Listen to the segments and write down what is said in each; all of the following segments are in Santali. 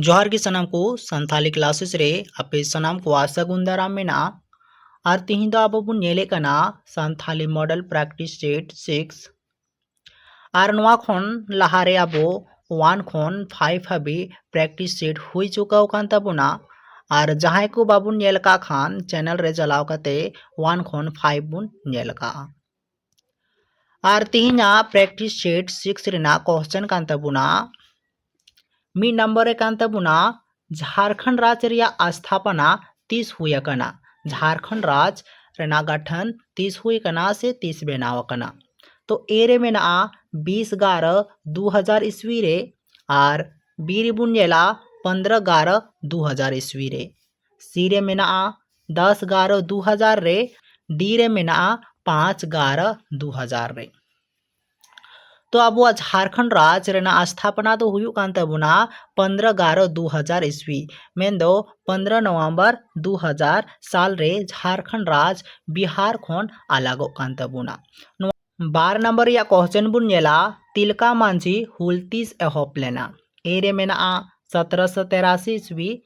ᱡᱚᱦᱟᱨ ᱜᱮ ᱥᱟᱱᱟᱢ ᱠᱚ ᱥᱟᱱᱛᱷᱟᱞᱤ ᱠᱞᱟᱥᱮᱥ ᱨᱮ ᱟᱯᱮ ᱥᱟᱱᱟᱢ ᱠᱚᱣᱟᱜ ᱥᱟᱹᱜᱩᱱ ᱫᱟᱨᱟᱢ ᱢᱮᱱᱟᱜᱼᱟ ᱟᱨ ᱛᱤᱦᱤᱧ ᱫᱚ ᱟᱵᱚ ᱵᱚᱱ ᱧᱮᱞᱮᱫ ᱠᱟᱱᱟ Santali model practice set six ᱟᱨ ᱱᱚᱣᱟ ᱠᱷᱚᱱ ᱞᱟᱦᱟ ᱨᱮ ᱟᱵᱚ ᱳᱣᱟᱱ ᱠᱷᱚᱱ ᱯᱷᱟᱭᱤᱵᱽ ᱦᱟᱹᱵᱤᱡ ᱯᱨᱮᱠᱴᱤᱥ ᱥᱮᱴ ᱦᱩᱭ ᱪᱩᱠᱟᱹᱣ ᱟᱠᱟᱱ ᱛᱟᱵᱚᱱᱟ ᱟᱨ ᱡᱟᱦᱟᱸᱭ ᱠᱚ ᱵᱟᱵᱚᱱ ᱧᱮᱞ ᱟᱠᱟᱫ ᱠᱷᱟᱱ ᱪᱮᱱᱮᱞ ᱨᱮ ᱪᱟᱞᱟᱣ ᱠᱟᱛᱮ ᱳᱣᱟᱱ ᱠᱷᱚᱱ ᱯᱷᱟᱭᱤᱵᱽ ᱵᱚᱱ ᱧᱮᱞ ᱟᱠᱟᱫᱼᱟ ᱟᱨ ᱛᱮᱦᱮᱧᱟᱜ ᱯᱨᱮᱠᱴᱤᱥ ᱥᱮᱴ ᱥᱤᱠᱥ ᱨᱮᱱᱟᱜ ᱠᱚᱥᱪᱮᱱ ᱠᱟᱱ ᱛᱟᱵᱚᱱᱟ ᱢᱤᱫ ᱱᱟᱢᱵᱟᱨ ᱨᱮ ᱠᱟᱱ ᱛᱟᱵᱚᱱᱟ ᱡᱷᱟᱲᱠᱷᱚᱸᱰ ᱨᱟᱡᱽ ᱨᱮᱭᱟᱜ ᱟᱥᱛᱷᱟᱯᱟᱱᱟ ᱛᱤᱥ ᱦᱩᱭ ᱟᱠᱟᱱᱟ ᱡᱷᱟᱲᱠᱷᱚᱸᱰ ᱨᱟᱡᱽ ᱨᱮᱱᱟᱜ ᱜᱟᱴᱷᱟᱱ ᱛᱤᱥ ᱦᱩᱭ ᱟᱠᱟᱱᱟ ᱥᱮ ᱛᱤᱥ ᱵᱮᱱᱟᱣ ᱟᱠᱟᱱᱟ ᱛᱚ ᱮ ᱨᱮ ᱢᱮᱱᱟᱜᱼᱟ ᱵᱤᱥ ᱜᱟᱨᱚ ᱫᱩ ᱦᱟᱡᱟᱨ ᱤᱥᱣᱤ ᱨᱮ ᱟᱨ ᱵᱤ ᱨᱮᱵᱚᱱ ᱧᱮᱞᱟ ᱯᱚᱱᱫᱽᱨᱚ ᱜᱟᱨᱚ ᱫᱩ ᱦᱟᱡᱟᱨ ᱤᱥᱣᱤ ᱨᱮ ᱥᱤ ᱨᱮ ᱢᱮᱱᱟᱜᱼᱟ ᱫᱚᱥ ᱜᱟᱨᱚ ᱫᱩ ᱦᱟᱡᱟᱨ ᱨᱮ ᱰᱤ ᱨᱮ ᱢᱮᱱᱟᱜᱼᱟ ᱯᱟᱸᱪ ᱜᱟᱨᱚ ᱫᱩ ᱦᱟᱡᱟᱨ ᱨᱮ ᱛᱚ ᱟᱵᱚᱣᱟᱜ ᱡᱷᱟᱨᱠᱷᱚᱸᱰ ᱨᱟᱡᱽ ᱨᱮᱱᱟᱜ ᱟᱥᱛᱷᱟᱯᱚᱱᱟ ᱫᱚ ᱦᱩᱭᱩᱜ ᱠᱟᱱ ᱛᱟᱵᱚᱱᱟ ᱯᱚᱱᱫᱨᱚ ᱜᱟᱨᱚ ᱫᱩ ᱦᱟᱡᱟᱨ ᱤᱥᱣᱤ ᱢᱮᱱᱫᱚ ᱯᱚᱱᱫᱨᱚ ᱱᱚᱵᱷᱮᱢᱵᱚᱨ ᱫᱩ ᱦᱟᱡᱟᱨ ᱥᱟᱞ ᱨᱮ ᱡᱷᱟᱨᱠᱷᱚᱸᱰ ᱨᱟᱡᱽ ᱵᱤᱦᱟᱨ ᱠᱷᱚᱱ ᱟᱞᱟᱜᱚᱜ ᱠᱟᱱ ᱛᱟᱵᱚᱱᱟ ᱱᱚᱣᱟ ᱵᱟᱨ ᱱᱟᱢᱵᱟᱨ ᱨᱮᱭᱟᱜ ᱠᱚᱥᱪᱮᱱ ᱵᱚᱱ ᱧᱮᱞᱟ ᱛᱤᱞᱠᱟ ᱢᱟᱹᱡᱷᱤ ᱦᱩᱞ ᱛᱤᱥ ᱮᱦᱚᱵ ᱞᱮᱱᱟ ᱮ ᱨᱮ ᱢᱮᱱᱟᱜᱼᱟ ᱥᱚᱛᱨᱚᱥᱚ ᱛᱮᱨᱟᱥᱤ ᱤᱥᱣᱤ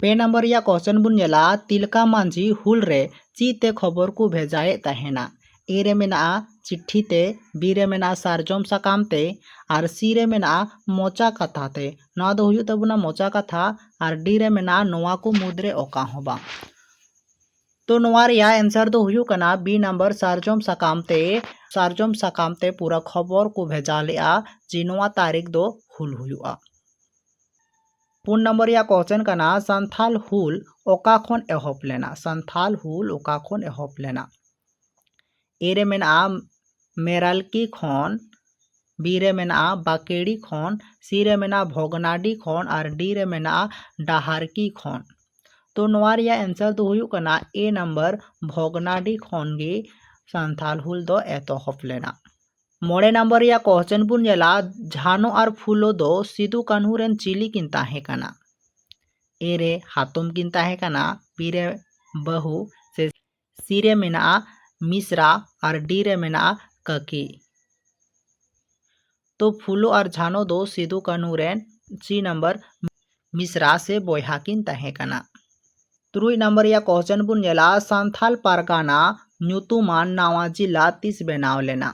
ᱯᱮ ᱱᱚᱢᱵᱚᱨ ᱨᱮᱭᱟᱜ ᱠᱚᱥᱪᱮᱱ ᱵᱚᱱ ᱧᱮᱞᱟ ᱛᱤᱞᱠᱟ ᱢᱟᱹᱡᱷᱤ ᱦᱩᱞ ᱨᱮ ᱪᱮᱫ ᱛᱮ ᱠᱷᱚᱵᱚᱨ ᱠᱚ ᱵᱷᱮᱡᱟᱭᱮᱫ ᱛᱟᱦᱮᱱᱟ? ᱮ ᱨᱮ ᱢᱮᱱᱟᱜᱼᱟ ᱪᱤᱴᱷᱤ ᱛᱮ, ᱵᱤ ᱨᱮ ᱢᱮᱱᱟᱜᱼᱟ ᱥᱟᱨᱡᱚᱢ ᱥᱟᱠᱟᱢ ᱛᱮ ᱟᱨ ᱥᱤ ᱨᱮ ᱢᱮᱱᱟᱜᱼᱟ ᱢᱚᱪᱟ ᱠᱟᱛᱷᱟ ᱛᱮ᱾ ᱱᱚᱣᱟ ᱫᱚ ᱦᱩᱭᱩᱜ ᱛᱟᱵᱚᱱᱟ ᱢᱚᱪᱟ ᱠᱟᱛᱷᱟ ᱟᱨ ᱰᱤ ᱨᱮ ᱢᱮᱱᱟᱜᱼᱟ ᱱᱚᱣᱟ ᱠᱚ ᱢᱩᱫᱽ ᱨᱮ ᱚᱠᱟ ᱦᱚᱸ ᱵᱟᱝ᱾ ᱛᱚ ᱱᱚᱣᱟ ᱨᱮᱭᱟᱜ ᱮᱱᱥᱟᱨ ᱫᱚ ᱦᱩᱭᱩᱜ ᱠᱟᱱᱟ ᱵᱤ ᱱᱚᱢᱵᱚᱨ ᱥᱟᱨᱡᱚᱢ ᱥᱟᱠᱟᱢ ᱛᱮ᱾ ᱥᱟᱨᱡᱚᱢ ᱥᱟᱠᱟᱢ ᱛᱮ ᱯᱩᱨᱟᱹ ᱠᱷᱚᱵᱚᱨ ᱠᱚ ᱵᱷᱮᱡᱟ ᱞᱮᱫᱼᱟ ᱡᱮ ᱱᱚᱣᱟ ᱛᱟᱹᱨᱤᱠᱷ ᱫᱚ ᱦᱩᱞ ᱦᱩᱭᱩᱜᱼᱟ᱾ ᱯᱩᱱ ᱱᱚᱢᱵᱚᱨ ᱨᱮᱭᱟᱜ ᱠᱚᱥᱪᱮᱱ ᱠᱟᱱᱟ ᱥᱟᱱᱛᱷᱟᱞ ᱦᱩᱞ ᱚᱠᱟ ᱠᱷᱚᱱ ᱮᱦᱚᱵ ᱞᱮᱱᱟ ᱥᱟᱱᱛᱷᱟᱞ ᱦᱩᱞ ᱚᱠᱟ ᱠᱷᱚᱱ ᱮᱦᱚᱵ ᱞᱮᱱᱟ ᱮ ᱨᱮ ᱢᱮᱱᱟᱜᱼᱟ ᱢᱮᱨᱟᱞᱠᱤ ᱠᱷᱚᱱ ᱵᱤ ᱨᱮ ᱢᱮᱱᱟᱜᱼᱟ ᱵᱟᱠᱮᱲᱤ ᱠᱷᱚᱱ ᱥᱤ ᱨᱮ ᱢᱮᱱᱟᱜᱼᱟ ᱵᱷᱚᱜᱽᱱᱟᱰᱤ ᱠᱷᱚᱱ ᱟᱨ ᱰᱤ ᱨᱮ ᱢᱮᱱᱟᱜᱼᱟ ᱰᱟᱦᱟᱨᱠᱤ ᱠᱷᱚᱱ ᱛᱚ ᱱᱚᱣᱟ ᱨᱮᱭᱟᱜ ᱮᱱᱥᱟᱨ ᱫᱚ ᱦᱩᱭᱩᱜ ᱠᱟᱱᱟ ᱮ ᱱᱟᱢᱵᱟᱨ ᱵᱷᱚᱜᱽᱱᱟᱰᱤ ᱠᱷᱚᱱ ᱜᱮ ᱥᱟᱱᱛᱷᱟᱞ ᱦᱩᱞ ᱫᱚ ᱮᱛᱚᱦᱚᱵ ᱞᱮᱱᱟ ᱢᱚᱬᱮ ᱱᱟᱢᱵᱟᱨ ᱨᱮᱭᱟᱜ ᱠᱚᱥᱪᱮᱱ ᱵᱚᱱ ᱧᱮᱞᱟ ᱡᱷᱟᱱᱚ ᱟᱨ ᱯᱷᱩᱞᱳ ᱫᱚ ᱥᱤᱫᱩ ᱠᱟᱹᱱᱦᱩ ᱨᱮᱱ ᱪᱤᱞᱤ ᱠᱤᱱ ᱛᱟᱦᱮᱸ ᱠᱟᱱᱟ ᱮ ᱨᱮ ᱦᱟᱛᱚᱢ ᱠᱤᱱ ᱛᱟᱦᱮᱸ ᱠᱟᱱᱟ ᱵᱤ ᱨᱮ ᱵᱟᱹᱦᱩ ᱥᱮ ᱥᱤ ᱨᱮ ᱢᱮᱱᱟᱜᱼᱟ ᱢᱤᱥᱨᱟ ᱟᱨ ᱰᱤ ᱨᱮ ᱢᱮᱱᱟᱜᱼᱟ ᱠᱟᱹᱠᱤ ᱛᱚ ᱯᱷᱩᱞᱳ ᱟᱨ ᱡᱷᱟᱱᱚ ᱫᱚ ᱥᱤᱫᱩ ᱠᱟᱹᱱᱦᱩ ᱨᱮᱱ ᱥᱤ ᱱᱟᱢᱵᱟᱨ ᱢᱤᱥᱨᱟ ᱥᱮ ᱵᱚᱭᱦᱟ ᱠᱤᱱ ᱛᱟᱦᱮᱸ ᱠᱟᱱᱟ ᱛᱩᱨᱩᱭ ᱱᱟᱢᱵᱟᱨ ᱨᱮᱭᱟᱜ ᱠᱚᱥᱪᱮᱱ ᱵᱚᱱ ᱧᱮᱞᱟ ᱥᱟᱱᱛᱷᱟᱞ ᱯᱟᱨᱜᱟᱱᱟ ᱧᱩᱛᱩᱢᱟᱱ ᱱᱟᱣᱟ ᱡᱤᱞᱟ ᱛᱤᱥ ᱵᱮᱱᱟᱣ ᱞᱮᱱᱟ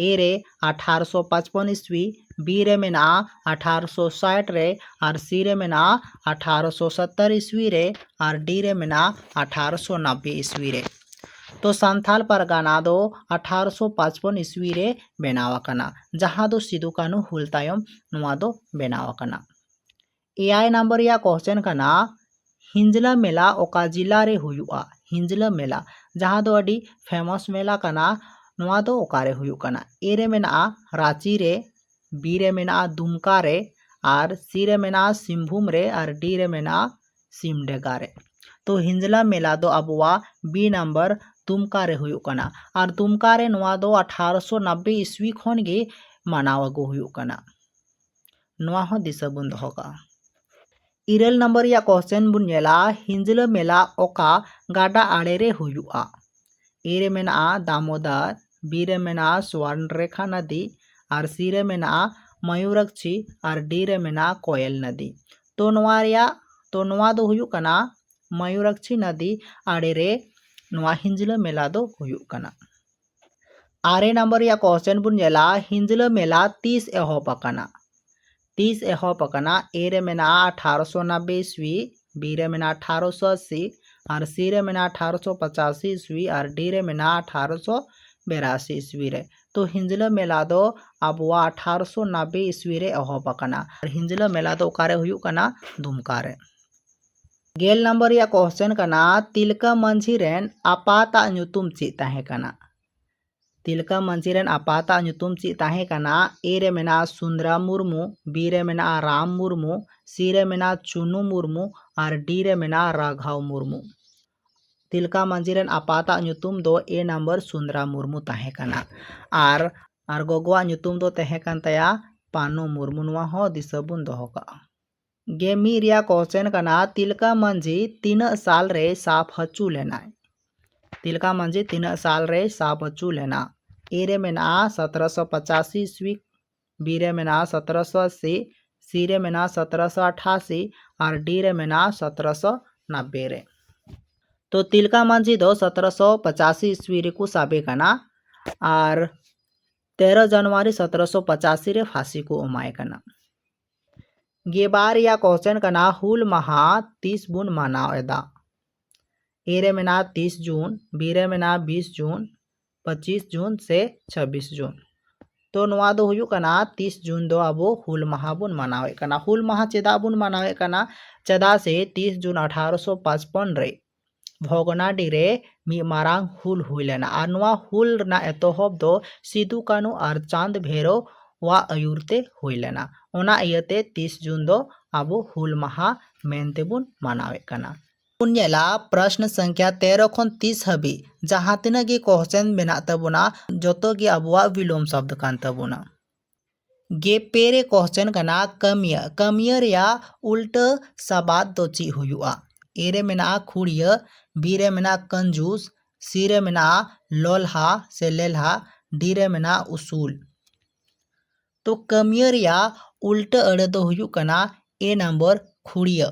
ᱮ ᱨᱮ ᱟᱴᱷᱟᱨᱚᱥᱚ ᱯᱟᱸᱪᱯᱚᱱ ᱤᱥᱣᱤ ᱵᱤ ᱨᱮ ᱢᱮᱱᱟᱜᱼᱟ ᱟᱴᱷᱟᱨᱚᱥᱚ ᱥᱟᱴ ᱨᱮ ᱟᱨ ᱥᱤ ᱨᱮ ᱢᱮᱱᱟᱜᱼᱟ ᱟᱴᱷᱟᱨᱚᱥᱚ ᱥᱚᱛᱛᱚᱨ ᱤᱥᱣᱤ ᱨᱮ ᱟᱨ ᱰᱤ ᱨᱮ ᱢᱮᱱᱟᱜᱼᱟ ᱟᱴᱷᱟᱨᱚᱥᱚ ᱱᱟᱵᱵᱮ ᱤᱥᱣᱤ ᱨᱮ ᱛᱚ ᱥᱟᱱᱛᱷᱟᱞ ᱯᱟᱨᱜᱟᱱᱟ ᱫᱚ ᱟᱴᱷᱟᱨᱚᱥᱚ ᱯᱟᱸᱪᱯᱚᱱ ᱤᱥᱣᱤ ᱨᱮ ᱵᱮᱱᱟᱣ ᱟᱠᱟᱱᱟ ᱡᱟᱦᱟᱸ ᱫᱚ ᱥᱤᱫᱩ ᱠᱟᱹᱱᱦᱩ ᱦᱩᱞ ᱛᱟᱭᱚᱢ ᱱᱚᱣᱟ ᱫᱚ ᱵᱮᱱᱟᱣ ᱟᱠᱟᱱᱟ ᱮᱭᱟᱭ ᱱᱟᱢᱵᱟᱨ ᱨᱮᱭᱟᱜ ᱠᱚᱥᱪᱮᱱ ᱠᱟᱱᱟ ᱦᱤᱸᱡᱽᱞᱟᱹ ᱢᱮᱞᱟ ᱚᱠᱟ ᱡᱤᱞᱟ ᱨᱮ ᱦᱩᱭᱩᱜᱼᱟ ᱦᱤᱸᱡᱽᱞᱟᱹ ᱢᱮᱞᱟ ᱡᱟᱦᱟᱸ ᱫᱚ ᱟᱹᱰᱤ ᱯᱷᱮᱢᱚᱥ ᱢᱮᱞᱟ ᱠᱟᱱᱟ ᱱᱚᱣᱟ ᱫᱚ ᱚᱠᱟᱨᱮ ᱦᱩᱭᱩᱜ ᱠᱟᱱᱟ ᱮ ᱨᱮ ᱢᱮᱱᱟᱜᱼᱟ ᱨᱟᱺᱪᱤ ᱨᱮ ᱵᱤ ᱨᱮ ᱢᱮᱱᱟᱜᱼᱟ ᱫᱩᱢᱠᱟ ᱨᱮ ᱟᱨ ᱥᱤ ᱨᱮ ᱢᱮᱱᱟᱜᱼᱟ ᱥᱤᱝᱵᱷᱩᱢ ᱨᱮ ᱟᱨ ᱰᱤ ᱨᱮ ᱢᱮᱱᱟᱜᱼᱟ ᱥᱤᱢᱰᱮᱜᱟ ᱨᱮ ᱛᱚ ᱦᱤᱸᱡᱽᱞᱟ ᱢᱮᱞᱟ ᱫᱚ ᱟᱵᱚᱣᱟᱜ ᱵᱤ ᱱᱟᱢᱵᱟᱨ ᱫᱩᱢᱠᱟ ᱨᱮ ᱦᱩᱭᱩᱜ ᱠᱟᱱᱟ ᱟᱨ ᱫᱩᱢᱠᱟ ᱨᱮ ᱱᱚᱣᱟ ᱫᱚ ᱟᱴᱷᱟᱨᱚᱥᱚ ᱱᱟᱵᱽᱵᱮ ᱤᱥᱣᱤ ᱠᱷᱚᱱ ᱜᱮ ᱢᱟᱱᱟᱣ ᱟᱹᱜᱩ ᱦᱩᱭᱩᱜ ᱠᱟᱱᱟ ᱱᱚᱣᱟ ᱦᱚᱸ ᱫᱤᱥᱟᱹ ᱵᱚᱱ ᱫᱚᱦᱚ ᱠᱟᱜᱼᱟ ᱤᱨᱟᱹᱞ ᱱᱟᱢᱵᱟᱨ ᱨᱮᱭᱟᱜ ᱠᱚᱥᱪᱮᱱ ᱵᱚᱱ ᱧᱮᱞᱟ ᱦᱤᱸᱡᱽᱞᱟᱹ ᱢᱮᱞᱟ ᱚᱠᱟ ᱜᱟᱰᱟ ᱟᱲᱮ ᱨᱮ ᱦᱩᱭᱩᱜᱼᱟ ᱮ ᱨᱮ ᱢᱮᱱᱟᱜᱼᱟ ᱫᱟᱢᱳᱫᱟᱨ ᱵᱤ ᱨᱮ ᱢᱮᱱᱟᱜᱼᱟ ᱥᱣᱟᱨᱱ ᱨᱮᱠᱷᱟ ᱱᱚᱫᱤ ᱟᱨ ᱥᱤ ᱨᱮ ᱢᱮᱱᱟᱜᱼᱟ ᱢᱚᱭᱩᱨᱟᱠᱪᱷᱤ ᱟᱨ ᱰᱤ ᱨᱮ ᱢᱮᱱᱟᱜᱼᱟ ᱠᱚᱭᱮᱞ ᱱᱚᱫᱤ ᱛᱚ ᱱᱚᱣᱟ ᱨᱮᱭᱟᱜ ᱛᱚ ᱱᱚᱣᱟ ᱫᱚ ᱦᱩᱭᱩᱜ ᱠᱟᱱᱟ ᱢᱚᱭᱩᱨᱟᱠᱪᱷᱤ ᱱᱚᱫᱤ ᱟᱲᱮ ᱨᱮ ᱱᱚᱣᱟ ᱦᱤᱸᱡᱽᱞᱟᱹ ᱢᱮᱞᱟ ᱫᱚ ᱦᱩᱭᱩᱜ ᱠᱟᱱᱟ ᱟᱨᱮ ᱱᱟᱢᱵᱟᱨ ᱨᱮᱭᱟᱜ ᱠᱚᱥᱪᱮᱱ ᱵᱚᱱ ᱧᱮᱞᱟ ᱦᱤᱸᱡᱽᱞᱟᱹ ᱢᱮᱞᱟ ᱛᱤᱥ ᱮᱦᱚᱵ ᱟᱠᱟᱱᱟ ᱛᱤᱥ ᱮᱦᱚᱵ ᱟᱠᱟᱱᱟ ᱮ ᱨᱮ ᱢᱮᱱᱟᱜᱼᱟ ᱟᱴᱷᱟᱨᱚᱥᱚ ᱱᱟᱵᱵᱮ ᱤᱥᱣᱤ ᱵᱤ ᱨᱮ ᱢᱮᱱᱟᱜᱼᱟ ᱟᱴᱷᱟᱨᱚᱥᱚ ᱟᱥᱤ ᱟᱨ ᱥᱤ ᱨᱮ ᱢᱮᱱᱟᱜᱼᱟ ᱟᱴᱷᱟᱨᱚᱥᱚ ᱯᱚᱪᱟᱥᱤ ᱤᱥᱣᱤ ᱟᱨ ᱰᱤ ᱨᱮ ᱢᱮᱱᱟᱜᱼᱟ ᱟᱴᱷᱟᱨᱚᱥᱚ ᱵᱮᱨᱟᱥᱤ ᱤᱥᱣᱤ ᱨᱮ ᱛᱚ ᱦᱤᱸᱡᱽᱞᱟᱹ ᱢᱮᱞᱟ ᱫᱚ ᱟᱵᱚᱣᱟᱜ ᱟᱴᱷᱟᱨᱚᱥᱚ ᱱᱟᱵᱵᱮ ᱤᱥᱣᱤ ᱨᱮ ᱮᱦᱚᱵ ᱟᱠᱟᱱᱟ ᱟᱨ ᱦᱤᱸᱡᱽᱞᱟᱹ ᱢᱮᱞᱟ ᱫᱚ ᱚᱠᱟᱨᱮ ᱦᱩᱭᱩᱜ ᱠᱟᱱᱟ ᱫᱩᱢᱠᱟ ᱨᱮ ᱜᱮᱞ ᱱᱟᱢᱵᱟᱨ ᱨᱮᱭᱟᱜ ᱠᱚᱥᱪᱮᱱ ᱠᱟᱱᱟ ᱛᱤᱞᱠᱟᱹ ᱢᱟᱹᱡᱷᱤ ᱨᱮᱱ ᱟᱯᱟᱛᱟᱜ ᱧᱩᱛᱩᱢ ᱪᱮᱫ ᱛᱟᱦᱮᱸ ᱠᱟᱱᱟ ᱛᱤᱞᱠᱟᱹ ᱢᱟᱹᱡᱷᱤ ᱨᱮᱱ ᱟᱯᱟᱛᱟᱜ ᱧᱩᱛᱩᱢ ᱪᱮᱫ ᱛᱟᱦᱮᱸ ᱠᱟᱱᱟ ᱮ ᱨᱮ ᱢᱮᱱᱟᱜᱼᱟ ᱥᱩᱱᱫᱨᱟ ᱢᱩᱨᱢᱩ ᱵᱤ ᱨᱮ ᱢᱮᱱᱟᱜᱼᱟ ᱨᱟᱢ ᱢᱩᱨᱢᱩ ᱥᱤ ᱨᱮ ᱢᱮᱱᱟᱜᱼᱟ ᱪᱩᱱᱩ ᱢᱩᱨᱢᱩ ᱟᱨ ᱰᱤ ᱨᱮ ᱢᱮᱱᱟᱜᱼᱟ ᱨᱟᱜᱷᱟᱣ ᱢᱩᱨᱢᱩ ᱛᱤᱞᱠᱟ ᱢᱟᱹᱡᱷᱤ ᱨᱮᱱ ᱟᱯᱟᱛ ᱟᱜ ᱧᱩᱛᱩᱢ ᱫᱚ ᱮ ᱱᱟᱢᱵᱟᱨ ᱥᱩᱱᱫᱽᱨᱟ ᱢᱩᱨᱢᱩ ᱛᱟᱦᱮᱸ ᱠᱟᱱᱟ ᱟᱨ ᱟᱨ ᱜᱚᱜᱚᱣᱟᱜ ᱧᱩᱛᱩᱢ ᱫᱚ ᱛᱟᱦᱮᱸ ᱠᱟᱱ ᱛᱟᱭᱟ ᱯᱟᱱᱳ ᱢᱩᱨᱢᱩ ᱱᱚᱣᱟ ᱦᱚᱸ ᱫᱤᱥᱟᱹ ᱵᱚᱱ ᱫᱚᱦᱚ ᱠᱟᱜᱼᱟ ᱜᱮ ᱢᱤᱫ ᱨᱮᱭᱟᱜ ᱠᱚᱥᱪᱮᱱ ᱠᱟᱱᱟ ᱛᱤᱞᱠᱟ ᱢᱟᱹᱡᱷᱤ ᱛᱤᱱᱟᱹᱜ ᱥᱟᱞ ᱨᱮᱭ ᱥᱟᱵ ᱦᱚᱪᱚ ᱞᱮᱱᱟ ᱛᱤᱞᱠᱟ ᱢᱟᱹᱡᱷᱤ ᱛᱤᱱᱟᱹᱜ ᱥᱟᱞ ᱨᱮᱭ ᱥᱟᱵ ᱦᱚᱪᱚ ᱞᱮᱱᱟ ᱮ ᱨᱮ ᱢᱮᱱᱟᱜᱼᱟ ᱥᱚᱛᱨᱚᱥᱚ ᱯᱚᱸᱪᱟᱥᱤ ᱤᱥᱣᱤ ᱵᱤ ᱨᱮ ᱢᱮᱱᱟᱜᱼᱟ ᱥᱚᱛᱨᱚᱥᱚ ᱟᱥᱤ ᱥᱤ ᱨᱮ ᱢᱮᱱᱟᱜᱼᱟ ᱥᱚᱛᱨᱚᱥᱚ ᱟᱴᱷᱟᱥᱤ ᱟᱨ ᱰᱤ ᱨᱮ ᱢᱮᱱᱟᱜᱼᱟ ᱥᱚᱛᱨᱚᱥᱚ ᱱᱟᱵᱵᱮ ᱨᱮ ᱛᱚ ᱛᱤᱞᱠᱟ ᱢᱟᱹᱡᱷᱤ ᱫᱚ ᱥᱚᱛᱨᱚᱥᱚ ᱯᱚᱪᱟᱥᱤ ᱤᱥᱣᱤ ᱨᱮᱠᱚ ᱥᱟᱵᱮ ᱠᱟᱱᱟ ᱟᱨ ᱛᱮᱨᱚ ᱡᱟᱱᱩᱣᱟᱨᱤ ᱥᱚᱛᱨᱚᱥᱚ ᱯᱚᱪᱟᱥᱤ ᱨᱮ ᱯᱷᱟᱸᱥᱤ ᱠᱚ ᱮᱢᱟᱭ ᱠᱟᱱᱟ ᱜᱮᱵᱟᱨ ᱨᱮᱭᱟᱜ ᱠᱚᱥᱪᱮᱱ ᱠᱟᱱᱟ ᱦᱩᱞ ᱢᱟᱦᱟ ᱛᱤᱥ ᱵᱚᱱ ᱢᱟᱱᱟᱣ ᱮᱫᱟ ᱮ ᱨᱮ ᱢᱮᱱᱟᱜᱼᱟ ᱛᱤᱥ ᱡᱩᱱ ᱵᱤ ᱨᱮ ᱢᱮᱱᱟᱜᱼᱟ ᱵᱤᱥ ᱡᱩᱱ ᱯᱚᱸᱪᱤᱥ ᱡᱩᱱ ᱥᱮ ᱪᱷᱟᱵᱽᱵᱤᱥ ᱡᱩᱱ ᱛᱚ ᱱᱚᱣᱟ ᱫᱚ ᱦᱩᱭᱩᱜ ᱠᱟᱱᱟ ᱛᱤᱥ ᱡᱩᱱ ᱫᱚ ᱟᱵᱚ ᱦᱩᱞ ᱢᱟᱦᱟ ᱵᱚᱱ ᱢᱟᱱᱟᱣᱮᱫ ᱠᱟᱱᱟ ᱦᱩᱞ ᱢᱟᱦᱟ ᱪᱮᱫᱟᱜ ᱵᱚᱱ ᱢᱟᱱᱟᱣᱮᱫ ᱠᱟᱱᱟ ᱪᱮᱫᱟᱜ ᱥᱮ ᱛᱤᱥ ᱡᱩᱱ ᱟᱴᱷᱟᱨᱚᱥᱚ ᱯᱟᱸᱪᱯᱚᱱ ᱨᱮ ᱵᱷᱚᱜᱽᱱᱟᱰᱤ ᱨᱮ ᱢᱤᱫ ᱢᱟᱨᱟᱝ ᱦᱩᱞ ᱦᱩᱭ ᱞᱮᱱᱟ ᱟᱨ ᱱᱚᱣᱟ ᱦᱩᱞ ᱨᱮᱱᱟᱜ ᱮᱛᱚᱦᱚᱵ ᱫᱚ ᱥᱤᱫᱩ ᱠᱟᱹᱱᱩ ᱟᱨ ᱪᱟᱸᱫᱽ ᱵᱷᱮᱨᱚ ᱣᱟᱜ ᱟᱹᱭᱩᱨ ᱛᱮ ᱦᱩᱭ ᱞᱮᱱᱟ ᱚᱱᱟ ᱤᱭᱟᱹᱛᱮ ᱛᱤᱥ ᱡᱩᱱ ᱫᱚ ᱟᱵᱚ ᱦᱩᱞ ᱢᱟᱦᱟ ᱢᱮᱱᱛᱮ ᱵᱚᱱ ᱢᱟᱱᱟᱣᱮᱫ ᱠᱟᱱᱟ ᱵᱚᱱ ᱧᱮᱞᱟ ᱯᱨᱚᱥᱱᱚ ᱥᱚᱝᱠᱷᱭᱟ ᱛᱮᱨᱚ ᱠᱷᱚᱱ ᱛᱤᱥ ᱦᱟᱹᱵᱤᱡ ᱡᱟᱦᱟᱸ ᱛᱤᱱᱟᱹᱜ ᱜᱮ ᱠᱚᱥᱪᱮᱱ ᱢᱮᱱᱟᱜ ᱛᱟᱵᱚᱱᱟ ᱡᱚᱛᱚ ᱜᱮ ᱟᱵᱚᱣᱟᱜ ᱵᱤᱞᱳᱢ ᱥᱚᱵᱽᱫᱚ ᱠᱟᱱ ᱛᱟᱵᱚᱱᱟ ᱜᱮ ᱯᱮ ᱨᱮ ᱠᱚᱥᱪᱮᱱ ᱠᱟᱱᱟ ᱠᱟᱹᱢᱤᱭᱟᱹ ᱠᱟᱹᱢᱤᱭᱟᱹ ᱨᱮᱭᱟᱜ ᱩᱞᱴᱟᱹ ᱥᱟᱵᱟᱫ ᱫᱚ ᱪᱮᱫ ᱦᱩᱭᱩᱜᱼᱟ ᱮ ᱨᱮ ᱢᱮᱱᱟᱜᱼᱟ ᱠᱷᱩᱲᱤᱭᱟᱹ ᱵᱤ ᱨᱮ ᱢᱮᱱᱟᱜᱼᱟ ᱠᱟᱹᱱᱡᱩᱥ ᱥᱤ ᱨᱮ ᱢᱮᱱᱟᱜᱼᱟ ᱞᱚᱞᱦᱟ ᱥᱮ ᱞᱮᱞᱦᱟ ᱰᱤ ᱨᱮ ᱢᱮᱱᱟᱜᱼᱟ ᱩᱥᱩᱞ ᱛᱚ ᱠᱟᱹᱢᱤᱭᱟᱹ ᱨᱮᱭᱟᱜ ᱩᱞᱴᱟᱹ ᱟᱹᱲᱟᱹ ᱫᱚ ᱦᱩᱭᱩᱜ ᱠᱟᱱᱟ ᱮ ᱱᱟᱢᱵᱟᱨ ᱠᱷᱩᱲᱤᱭᱟᱹ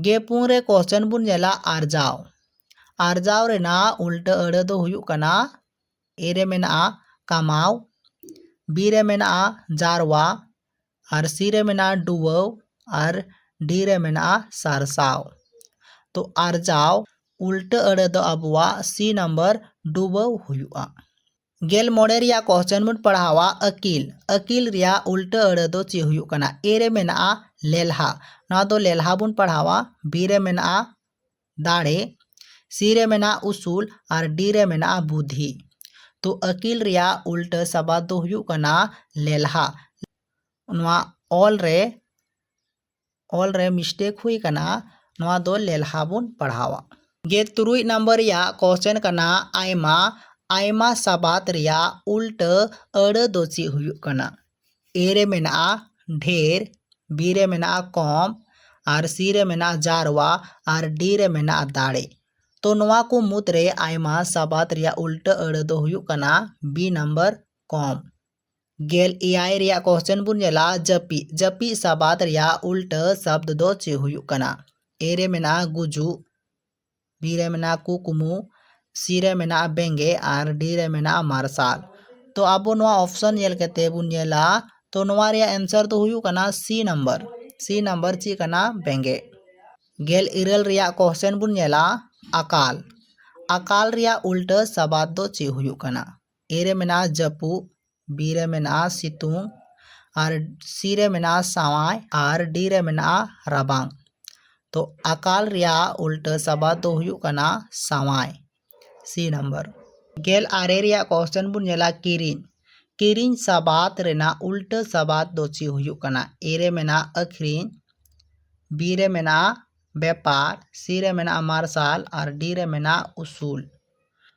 ᱜᱮ ᱯᱩᱱ ᱨᱮ ᱠᱚᱥᱪᱟᱱ ᱵᱚᱱ ᱧᱮᱞᱟ ᱟᱨᱡᱟᱣ ᱟᱨᱡᱟᱣ ᱨᱮᱱᱟᱜ ᱩᱞᱴᱟᱹ ᱟᱹᱲᱟᱹ ᱫᱚ ᱦᱩᱭᱩᱜ ᱠᱟᱱᱟ ᱮ ᱨᱮ ᱢᱮᱱᱟᱜᱼᱟ ᱠᱟᱢᱟᱣ ᱵᱤ ᱨᱮ ᱢᱮᱱᱟᱜᱼᱟ ᱡᱟᱨᱣᱟ ᱟᱨ ᱥᱤ ᱨᱮ ᱢᱮᱱᱟᱜᱼᱟ ᱰᱩᱵᱟᱹᱣ ᱟᱨ ᱰᱤ ᱨᱮ ᱢᱮᱱᱟᱜᱼᱟ ᱥᱟᱨᱥᱟᱣ ᱛᱚ ᱟᱨᱡᱟᱣ ᱩᱞᱴᱟᱹ ᱟᱹᱲᱟᱹ ᱫᱚ ᱟᱵᱚᱣᱟᱜ ᱥᱤ ᱱᱟᱢᱵᱟᱨ ᱰᱩᱵᱟᱹᱣ ᱦᱩᱭᱩᱜᱼᱟ ᱜᱮᱞ ᱢᱚᱬᱮ ᱨᱮᱭᱟᱜ ᱠᱚᱥᱪᱮᱱ ᱵᱚᱱ ᱯᱟᱲᱦᱟᱣᱟ ᱟᱹᱠᱤᱞ ᱟᱹᱠᱤᱞ ᱨᱮᱭᱟᱜ ᱩᱞᱴᱟᱹ ᱟᱹᱲᱟᱹ ᱫᱚ ᱪᱮᱫ ᱦᱩᱭᱩᱜ ᱠᱟᱱᱟ ᱮ ᱨᱮ ᱢᱮᱱᱟᱜᱼᱟ ᱞᱮᱞᱦᱟ ᱱᱚᱣᱟ ᱫᱚ ᱞᱮᱞᱦᱟ ᱵᱚᱱ ᱯᱟᱲᱦᱟᱣᱟ ᱵᱤ ᱨᱮ ᱢᱮᱱᱟᱜᱼᱟ ᱫᱟᱲᱮ ᱥᱤ ᱨᱮ ᱢᱮᱱᱟᱜᱼᱟ ᱩᱥᱩᱞ ᱟᱨ ᱰᱤ ᱨᱮ ᱢᱮᱱᱟᱜᱼᱟ ᱵᱩᱫᱷᱤ ᱛᱚ ᱟᱹᱠᱤᱞ ᱨᱮᱭᱟᱜ ᱩᱞᱴᱟᱹ ᱥᱟᱵᱟᱫ ᱫᱚ ᱦᱩᱭᱩᱜ ᱠᱟᱱᱟ ᱞᱮᱞᱦᱟ ᱱᱚᱣᱟ ᱚᱞ ᱨᱮ ᱚᱞ ᱨᱮ ᱢᱤᱥᱴᱮᱠ ᱦᱩᱭ ᱟᱠᱟᱱᱟ ᱱᱚᱣᱟ ᱫᱚ ᱞᱮᱞᱦᱟ ᱵᱚᱱ ᱯᱟᱲᱦᱟᱣᱟ ᱜᱮ ᱛᱩᱨᱩᱭ ᱱᱟᱢᱵᱟᱨ ᱨᱮᱭᱟᱜ ᱠᱚᱥᱪᱮᱱ ᱠᱟᱱᱟ ᱟᱭᱢᱟ ᱟᱭᱢᱟ ᱥᱟᱵᱟᱫ ᱨᱮᱭᱟᱜ ᱩᱞᱴᱟᱹ ᱟᱹᱲᱟᱹ ᱫᱚ ᱪᱮᱫ ᱦᱩᱭᱩᱜ ᱠᱟᱱᱟ ᱮ ᱨᱮ ᱢᱮᱱᱟᱜᱼᱟ ᱰᱷᱮᱨ ᱵᱤ ᱨᱮ ᱢᱮᱱᱟᱜᱼᱟ ᱠᱚᱢ ᱟᱨ ᱥᱤ ᱨᱮ ᱢᱮᱱᱟᱜᱼᱟ ᱡᱟᱨᱣᱟ ᱟᱨ ᱰᱤ ᱨᱮ ᱢᱮᱱᱟᱜᱼᱟ ᱫᱟᱲᱮ ᱛᱚ ᱱᱚᱣᱟ ᱠᱚ ᱢᱩᱫᱽ ᱨᱮ ᱟᱭᱢᱟ ᱥᱟᱵᱟᱫ ᱨᱮᱭᱟᱜ ᱩᱞᱴᱟᱹ ᱟᱹᱲᱟᱹ ᱫᱚ ᱦᱩᱭᱩᱜ ᱠᱟᱱᱟ ᱵᱤ ᱱᱟᱢᱵᱟᱨ ᱠᱚᱢ ᱜᱮᱞ ᱮᱭᱟᱭ ᱨᱮᱭᱟᱜ ᱠᱚᱥᱪᱮᱱ ᱵᱚᱱ ᱧᱮᱞᱟ ᱡᱟᱹᱯᱤᱫ ᱡᱟᱹᱯᱤᱫ ᱥᱟᱵᱟᱫ ᱨᱮᱭᱟᱜ ᱩᱞᱴᱟᱹ ᱥᱟᱵᱫ ᱫᱚ ᱪᱮᱫ ᱦᱩᱭᱩᱜ ᱠᱟᱱᱟ ᱮ ᱨᱮ ᱢᱮᱱᱟᱜᱼᱟ ᱜᱩᱡᱩᱜ ᱵᱤ ᱨᱮ ᱢᱮᱱᱟᱜᱼᱟ ᱠᱩᱠᱢᱩ ᱥᱤ ᱨᱮ ᱢᱮᱱᱟᱜᱼᱟ ᱵᱮᱸᱜᱮ ᱟᱨ ᱰᱤ ᱨᱮ ᱢᱮᱱᱟᱜᱼᱟ ᱢᱟᱨᱥᱟᱞ ᱛᱚ ᱟᱵᱚ ᱱᱚᱣᱟ ᱚᱯᱥᱚᱱ ᱧᱮᱞ ᱠᱟᱛᱮ ᱵᱚᱱ ᱧᱮᱞᱟ ᱛᱚ ᱱᱚᱣᱟ ᱨᱮᱭᱟᱜ ᱮᱱᱥᱟᱨ ᱫᱚ ᱦᱩᱭᱩᱜ ᱠᱟᱱᱟ ᱥᱤ ᱱᱟᱢᱵᱟᱨ ᱥᱤ ᱱᱟᱢᱵᱟᱨ ᱪᱮᱫ ᱠᱟᱱᱟ ᱵᱮᱸᱜᱮ ᱜᱮᱞ ᱤᱨᱟᱹᱞ ᱨᱮᱭᱟᱜ ᱠᱚᱥᱪᱮᱱ ᱵᱚᱱ ᱧᱮᱞᱟ ᱟᱠᱟᱞ ᱟᱠᱟᱞ ᱨᱮᱭᱟᱜ ᱩᱞᱴᱟᱹ ᱥᱟᱵᱟᱫ ᱫᱚ ᱪᱮᱫ ᱦᱩᱭᱩᱜ ᱠᱟᱱᱟ ᱮ ᱨᱮ ᱢᱮᱱᱟᱜᱼᱟ ᱡᱟᱹᱯᱩᱫ ᱵᱤ ᱨᱮ ᱢᱮᱱᱟᱜᱼᱟ ᱥᱤᱛᱩᱝ ᱟᱨ ᱥᱤ ᱨᱮ ᱢᱮᱱᱟᱜᱼᱟ ᱥᱟᱶᱟᱭ ᱟᱨ ᱰᱤ ᱨᱮ ᱢᱮᱱᱟᱜᱼᱟ ᱨᱟᱵᱟᱝ ᱛᱚ ᱟᱠᱟᱞ ᱨᱮᱭᱟᱜ ᱩᱞᱴᱟᱹ ᱥᱟᱵᱟᱫ ᱫᱚ ᱦᱩᱭᱩᱜ ᱠᱟᱱᱟ ᱥᱟᱶᱟᱭ ᱥᱤ ᱱᱟᱢᱵᱟᱨ ᱜᱮᱞ ᱟᱨᱮ ᱨᱮᱭᱟᱜ ᱠᱚᱥᱪᱮᱱ ᱵᱚᱱ ᱧᱮᱞᱟ ᱠᱤᱨᱤᱧ ᱠᱤᱨᱤᱧ ᱥᱟᱵᱟᱫ ᱨᱮᱱᱟᱜ ᱩᱞᱴᱟᱹ ᱥᱟᱵᱟᱫ ᱫᱚ ᱪᱮᱫ ᱦᱩᱭᱩᱜ ᱠᱟᱱᱟ ᱮ ᱨᱮ ᱢᱮᱱᱟᱜᱼᱟ ᱟᱹᱠᱷᱨᱤᱧ ᱵᱤ ᱨᱮ ᱢᱮᱱᱟᱜᱼᱟ ᱵᱮᱯᱟᱨ ᱥᱤ ᱨᱮ ᱢᱮᱱᱟᱜᱼᱟ ᱢᱟᱨᱥᱟᱞ ᱟᱨ ᱰᱤ ᱨᱮ ᱢᱮᱱᱟᱜᱼᱟ ᱩᱥᱩᱞ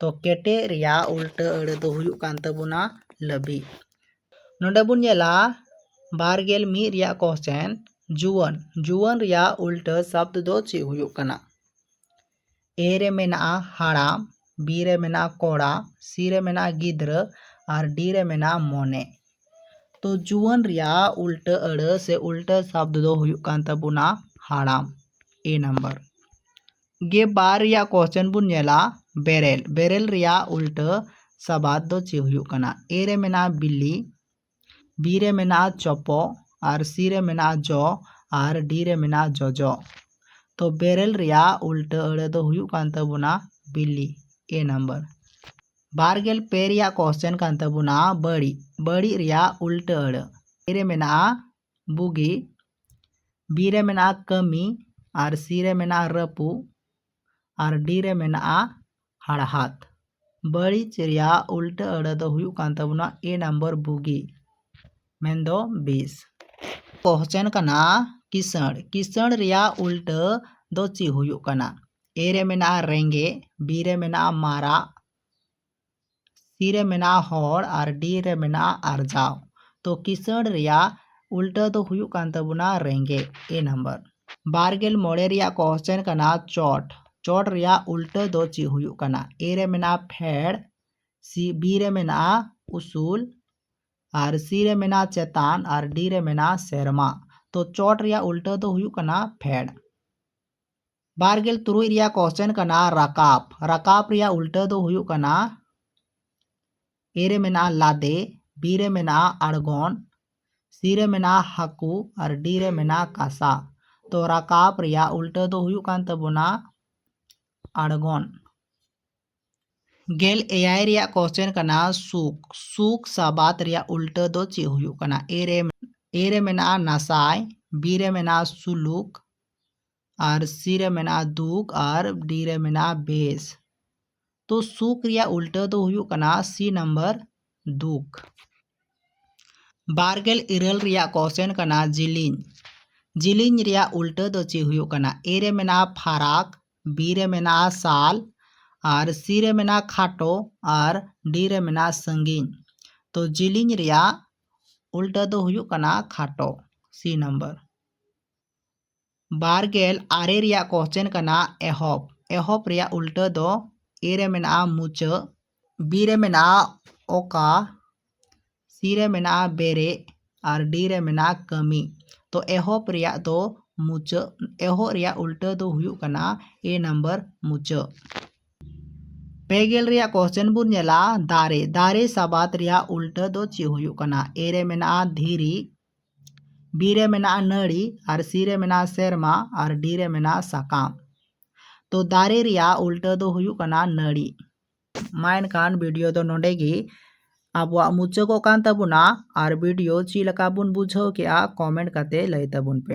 ᱛᱚ ᱠᱮᱴᱮᱡ ᱨᱮᱭᱟᱜ ᱩᱞᱴᱟᱹ ᱟᱹᱲᱟᱹ ᱫᱚ ᱦᱩᱭᱩᱜ ᱠᱟᱱ ᱛᱟᱵᱚᱱᱟ ᱞᱟᱹᱵᱤᱫ ᱱᱚᱰᱮ ᱵᱚᱱ ᱧᱮᱞᱟ ᱵᱟᱨ ᱜᱮᱞ ᱢᱤᱫ ᱨᱮᱭᱟᱜ ᱠᱚᱥᱪᱮᱱ ᱡᱩᱣᱟᱹᱱ ᱡᱩᱣᱟᱹᱱ ᱨᱮᱭᱟᱜ ᱩᱞᱴᱟᱹ ᱥᱟᱵᱫ ᱫᱚ ᱪᱮᱫ ᱦᱩᱭᱩᱜ ᱠᱟᱱᱟ ᱮ ᱨᱮ ᱢᱮᱱᱟᱜᱼᱟ ᱦᱟᱲᱟᱢ ᱵᱤ ᱨᱮ ᱢᱮᱱᱟᱜᱼᱟ ᱠᱚᱲᱟ ᱥᱤ ᱨᱮ ᱢᱮᱱᱟᱜᱼᱟ ᱜᱤᱫᱽᱨᱟᱹ ᱟᱨ ᱰᱤ ᱨᱮ ᱢᱮᱱᱟᱜᱼᱟ ᱢᱚᱱᱮ ᱛᱚ ᱡᱩᱣᱟᱹᱱ ᱨᱮᱭᱟᱜ ᱩᱞᱴᱟᱹ ᱟᱹᱲᱟᱹ ᱥᱮ ᱩᱞᱴᱟᱹ ᱥᱟᱵᱫ ᱫᱚ ᱦᱩᱭᱩᱜ ᱠᱟᱱ ᱛᱟᱵᱚᱱᱟ ᱦᱟᱲᱟᱢ ᱮ ᱱᱟᱢᱵᱟᱨ ᱜᱮ ᱵᱟᱨ ᱨᱮᱭᱟᱜ ᱠᱚᱥᱪᱮᱱ ᱵᱚᱱ ᱧᱮᱞᱟ ᱵᱮᱨᱮᱞ ᱵᱮᱨᱮᱞ ᱨᱮᱭᱟᱜ ᱩᱞᱴᱟᱹ ᱥᱟᱵᱟᱫ ᱫᱚ ᱪᱮᱫ ᱦᱩᱭᱩᱜ ᱠᱟᱱᱟ ᱮ ᱨᱮ ᱢᱮᱱᱟᱜᱼᱟ ᱵᱤᱞᱤ ᱵᱤ ᱨᱮ ᱢᱮᱱᱟᱜᱼᱟ ᱪᱚᱯᱚ ᱟᱨ ᱥᱤ ᱨᱮ ᱢᱮᱱᱟᱜᱼᱟ ᱡᱚ ᱟᱨ ᱰᱤ ᱨᱮ ᱢᱮᱱᱟᱜᱼᱟ ᱡᱚᱡᱚ ᱛᱚ ᱵᱮᱨᱮᱞ ᱨᱮᱭᱟᱜ ᱩᱞᱴᱟᱹ ᱟᱹᱲᱟᱹ ᱫᱚ ᱦᱩᱭᱩᱜ ᱠᱟᱱ ᱛᱟᱵᱚᱱᱟ ᱵᱤᱞᱤ ᱮ ᱱᱟᱢᱵᱟᱨ ᱵᱟᱨ ᱜᱮᱞ ᱯᱮ ᱨᱮᱭᱟᱜ ᱠᱚᱥᱪᱮᱱ ᱠᱟᱱ ᱛᱟᱵᱚᱱᱟ ᱵᱟᱹᱲᱤᱡ ᱵᱟᱹᱲᱤᱡ ᱨᱮᱭᱟᱜ ᱩᱞᱴᱟᱹ ᱟᱹᱲᱟᱹ ᱮ ᱨᱮ ᱢᱮᱱᱟᱜᱼᱟ ᱵᱩᱜᱤ ᱵᱤ ᱨᱮ ᱢᱮᱱᱟᱜᱼᱟ ᱠᱟᱹᱢᱤ ᱟᱨ ᱥᱤ ᱨᱮ ᱢᱮᱱᱟᱜᱼᱟ ᱨᱟᱹᱯᱩᱫ ᱟᱨ ᱰᱤ ᱨᱮ ᱢᱮᱱᱟᱜᱼᱟ ᱦᱟᱲᱦᱟᱫ ᱵᱟᱹᱲᱤᱡ ᱨᱮᱭᱟᱜ ᱩᱞᱴᱟᱹ ᱟᱹᱲᱟᱹ ᱫᱚ ᱦᱩᱭᱩᱜ ᱠᱟᱱ ᱛᱟᱵᱚᱱᱟ ᱮ ᱱᱟᱢᱵᱟᱨ ᱵᱩᱜᱤ ᱢᱮᱱᱫᱚ ᱵᱤᱥ ᱠᱚᱦᱪᱮᱱ ᱠᱟᱱᱟ ᱠᱤᱥᱟᱹᱬ ᱠᱤᱥᱟᱹᱬ ᱨᱮᱭᱟᱜ ᱩᱞᱴᱟᱹ ᱫᱚ ᱪᱮᱫ ᱦᱩᱭᱩᱜ ᱠᱟᱱᱟ ᱮ ᱨᱮ ᱢᱮᱱᱟᱜᱼᱟ ᱨᱮᱸᱜᱮᱡ ᱵᱤ ᱨᱮ ᱢᱮᱱᱟᱜᱼᱟ ᱢᱟᱨᱟᱜ ᱥᱤ ᱨᱮ ᱢᱮᱱᱟᱜᱼᱟ ᱦᱚᱲ ᱟᱨ ᱰᱤ ᱨᱮ ᱢᱮᱱᱟᱜᱼᱟ ᱟᱨᱡᱟᱣ ᱛᱚ ᱠᱤᱥᱟᱹᱬ ᱨᱮᱭᱟᱜ ᱩᱞᱴᱟᱹ ᱫᱚ ᱦᱩᱭᱩᱜ ᱠᱟᱱ ᱛᱟᱵᱚᱱᱟ ᱨᱮᱸᱜᱮᱡ ᱮ ᱱᱟᱢᱵᱟᱨ ᱵᱟᱨ ᱜᱮᱞ ᱢᱚᱬᱮ ᱨᱮᱭᱟᱜ ᱠᱚᱥᱪᱮᱱ ᱠᱟᱱᱟ ᱪᱚᱴ ᱪᱚᱴ ᱨᱮᱭᱟᱜ ᱩᱞᱴᱟᱹ ᱫᱚ ᱪᱮᱫ ᱦᱩᱭᱩᱜ ᱠᱟᱱᱟ ᱮ ᱨᱮ ᱢᱮᱱᱟᱜᱼᱟ ᱯᱷᱮᱰ ᱥᱤ ᱵᱤ ᱨᱮ ᱢᱮᱱᱟᱜᱼᱟ ᱩᱥᱩᱞ ᱟᱨ ᱥᱤ ᱨᱮ ᱢᱮᱱᱟᱜᱼᱟ ᱪᱮᱛᱟᱱ ᱟᱨ ᱰᱤ ᱨᱮ ᱢᱮᱱᱟᱜᱼᱟ ᱥᱮᱨᱢᱟ ᱛᱚ ᱪᱚᱴ ᱨᱮᱭᱟᱜ ᱩᱞᱴᱟᱹ ᱫᱚ ᱦᱩᱭᱩᱜ ᱠᱟᱱᱟ ᱯᱷᱮᱰ ᱵᱟᱨᱜᱮᱞ ᱛᱩᱨᱩᱭ ᱨᱮᱭᱟᱜ ᱠᱚᱥᱪᱮᱱ ᱠᱟᱱᱟ ᱨᱟᱠᱟᱵ ᱨᱟᱠᱟᱵ ᱨᱮᱭᱟᱜ ᱩᱞᱴᱟᱹ ᱫᱚ ᱦᱩᱭᱩᱜ ᱠᱟᱱᱟ ᱮ ᱨᱮ ᱢᱮᱱᱟᱜᱼᱟ ᱞᱟᱫᱮ ᱵᱤ ᱨᱮ ᱢᱮᱱᱟᱜᱼᱟ ᱟᱬᱜᱚᱱ ᱥᱤ ᱨᱮ ᱢᱮᱱᱟᱜᱼᱟ ᱦᱟᱹᱠᱩ ᱟᱨ ᱰᱤ ᱨᱮ ᱢᱮᱱᱟᱜᱼᱟ ᱠᱟᱥᱟ ᱛᱚ ᱨᱟᱠᱟᱵ ᱨᱮᱭᱟᱜ ᱩᱞᱴᱟᱹ ᱫᱚ ᱦᱩᱭᱩᱜ ᱠᱟᱱ ᱛᱟᱵᱚᱱᱟ ᱟᱬᱜᱚᱱ ᱜᱮᱞ ᱮᱭᱟᱭ ᱨᱮᱭᱟᱜ ᱠᱚᱥᱪᱮᱱ ᱠᱟᱱᱟ ᱥᱩᱠ ᱥᱩᱠ ᱥᱟᱵᱟᱫ ᱨᱮᱭᱟᱜ ᱩᱞᱴᱟᱹ ᱫᱚ ᱪᱮᱫ ᱦᱩᱭᱩᱜ ᱠᱟᱱᱟ ᱮ ᱨᱮ ᱮ ᱨᱮ ᱢᱮᱱᱟᱜᱼᱟ ᱱᱟᱥᱟᱭ ᱵᱤ ᱨᱮ ᱢᱮᱱᱟᱜᱼᱟ ᱥᱩᱞᱩᱠ ᱟᱨ ᱥᱤ ᱨᱮ ᱢᱮᱱᱟᱜᱼᱟ ᱫᱩᱠ ᱟᱨ ᱰᱤ ᱨᱮ ᱢᱮᱱᱟᱜᱼᱟ ᱵᱮᱥ ᱛᱚ ᱥᱩᱠ ᱨᱮᱭᱟᱜ ᱩᱞᱴᱟᱹ ᱫᱚ ᱦᱩᱭᱩᱜ ᱠᱟᱱᱟ ᱥᱤ ᱱᱟᱢᱵᱟᱨ ᱫᱩᱠ ᱵᱟᱨᱜᱮᱞ ᱤᱨᱟᱹᱞ ᱨᱮᱭᱟᱜ ᱠᱚᱥᱪᱮᱱ ᱠᱟᱱᱟ ᱡᱤᱞᱤᱧ ᱡᱤᱞᱤᱧ ᱨᱮᱭᱟᱜ ᱩᱞᱴᱟᱹ ᱫᱚ ᱪᱮᱫ ᱦᱩᱭᱩᱜ ᱠᱟᱱᱟ ᱮ ᱨᱮ ᱢᱮᱱᱟᱜᱼᱟ ᱯᱷᱟᱨᱟᱠ ᱵᱤ ᱨᱮ ᱢᱮᱱᱟᱜᱼᱟ ᱥᱟᱞ ᱟᱨ ᱥᱤ ᱨᱮ ᱢᱮᱱᱟᱜᱼᱟ ᱠᱷᱟᱴᱚ ᱟᱨ ᱰᱤ ᱨᱮ ᱢᱮᱱᱟᱜᱼᱟ ᱥᱟᱺᱜᱤᱧ ᱛᱚ ᱡᱤᱞᱤᱧ ᱨᱮᱭᱟᱜ ᱩᱞᱴᱟᱹ ᱫᱚ ᱦᱩᱭᱩᱜ ᱠᱟᱱᱟ ᱠᱷᱟᱴᱚ ᱥᱤ ᱱᱟᱢᱵᱟᱨ ᱵᱟᱨ ᱜᱮᱞ ᱟᱨᱮ ᱨᱮᱭᱟᱜ ᱠᱚᱥᱪᱮᱱ ᱠᱟᱱᱟ ᱮᱦᱚᱵ ᱮᱦᱚᱵ ᱨᱮᱭᱟᱜ ᱩᱞᱴᱟᱹ ᱫᱚ ᱮ ᱨᱮ ᱢᱮᱱᱟᱜᱼᱟ ᱢᱩᱪᱟᱹᱫ ᱵᱤ ᱨᱮ ᱢᱮᱱᱟᱜᱼᱟ ᱚᱠᱟ ᱥᱤ ᱨᱮ ᱢᱮᱱᱟᱜᱼᱟ ᱵᱮᱨᱮᱫ ᱟᱨ ᱰᱤ ᱨᱮ ᱢᱮᱱᱟᱜᱼᱟ ᱠᱟᱹᱢᱤ ᱛᱚ ᱮᱦᱚᱵ ᱨᱮᱭᱟᱜ ᱫᱚ ᱢᱩᱪᱟᱹᱫ ᱮᱦᱚᱵ ᱨᱮᱭᱟᱜ ᱩᱞᱴᱟᱹ ᱫᱚ ᱦᱩᱭᱩᱜ ᱠᱟᱱᱟ ᱮ ᱱᱟᱢᱵᱟᱨ ᱢᱩᱪᱟᱹᱫ ᱯᱮ ᱜᱮᱞ ᱨᱮᱭᱟᱜ ᱠᱚᱥᱪᱮᱱ ᱵᱚᱱ ᱧᱮᱞᱟ ᱫᱟᱨᱮ ᱫᱟᱨᱮ ᱥᱟᱵᱟᱫ ᱨᱮᱭᱟᱜ ᱩᱞᱴᱟᱹ ᱫᱚ ᱪᱮᱫ ᱦᱩᱭᱩᱜ ᱠᱟᱱᱟ ᱮ ᱨᱮ ᱢᱮᱱᱟᱜᱼᱟ ᱫᱷᱤᱨᱤ ᱵᱤ ᱨᱮ ᱢᱮᱱᱟᱜᱼᱟ ᱱᱟᱹᱲᱤ ᱟᱨ ᱥᱤ ᱨᱮ ᱢᱮᱱᱟᱜᱼᱟ ᱥᱮᱨᱢᱟ ᱟᱨ ᱰᱤ ᱨᱮ ᱢᱮᱱᱟᱜᱼᱟ ᱥᱟᱠᱟᱢ ᱛᱚ ᱫᱟᱨᱮ ᱨᱮᱭᱟᱜ ᱩᱞᱴᱟᱹ ᱫᱚ ᱦᱩᱭᱩᱜ ᱠᱟᱱᱟ ᱱᱟᱹᱲᱤ ᱢᱟ ᱮᱱᱠᱷᱟᱱ ᱵᱷᱤᱰᱤᱭᱳ ᱫᱚ ᱱᱚᱸᱰᱮ ᱜᱮ ᱟᱵᱚᱣᱟᱜ ᱢᱩᱪᱟᱹᱫᱚᱜ ᱠᱟᱱ ᱛᱟᱵᱚᱱᱟ ᱟᱨ ᱵᱷᱤᱰᱤᱭᱳ ᱪᱮᱫ ᱞᱮᱠᱟ ᱵᱚᱱ ᱵᱩᱡᱷᱟᱹᱣ ᱠᱮᱜᱼᱟ ᱠᱚᱢᱮᱱᱴ ᱠᱟᱛᱮ ᱞᱟᱹᱭ ᱛᱟᱵᱚᱱ ᱯᱮ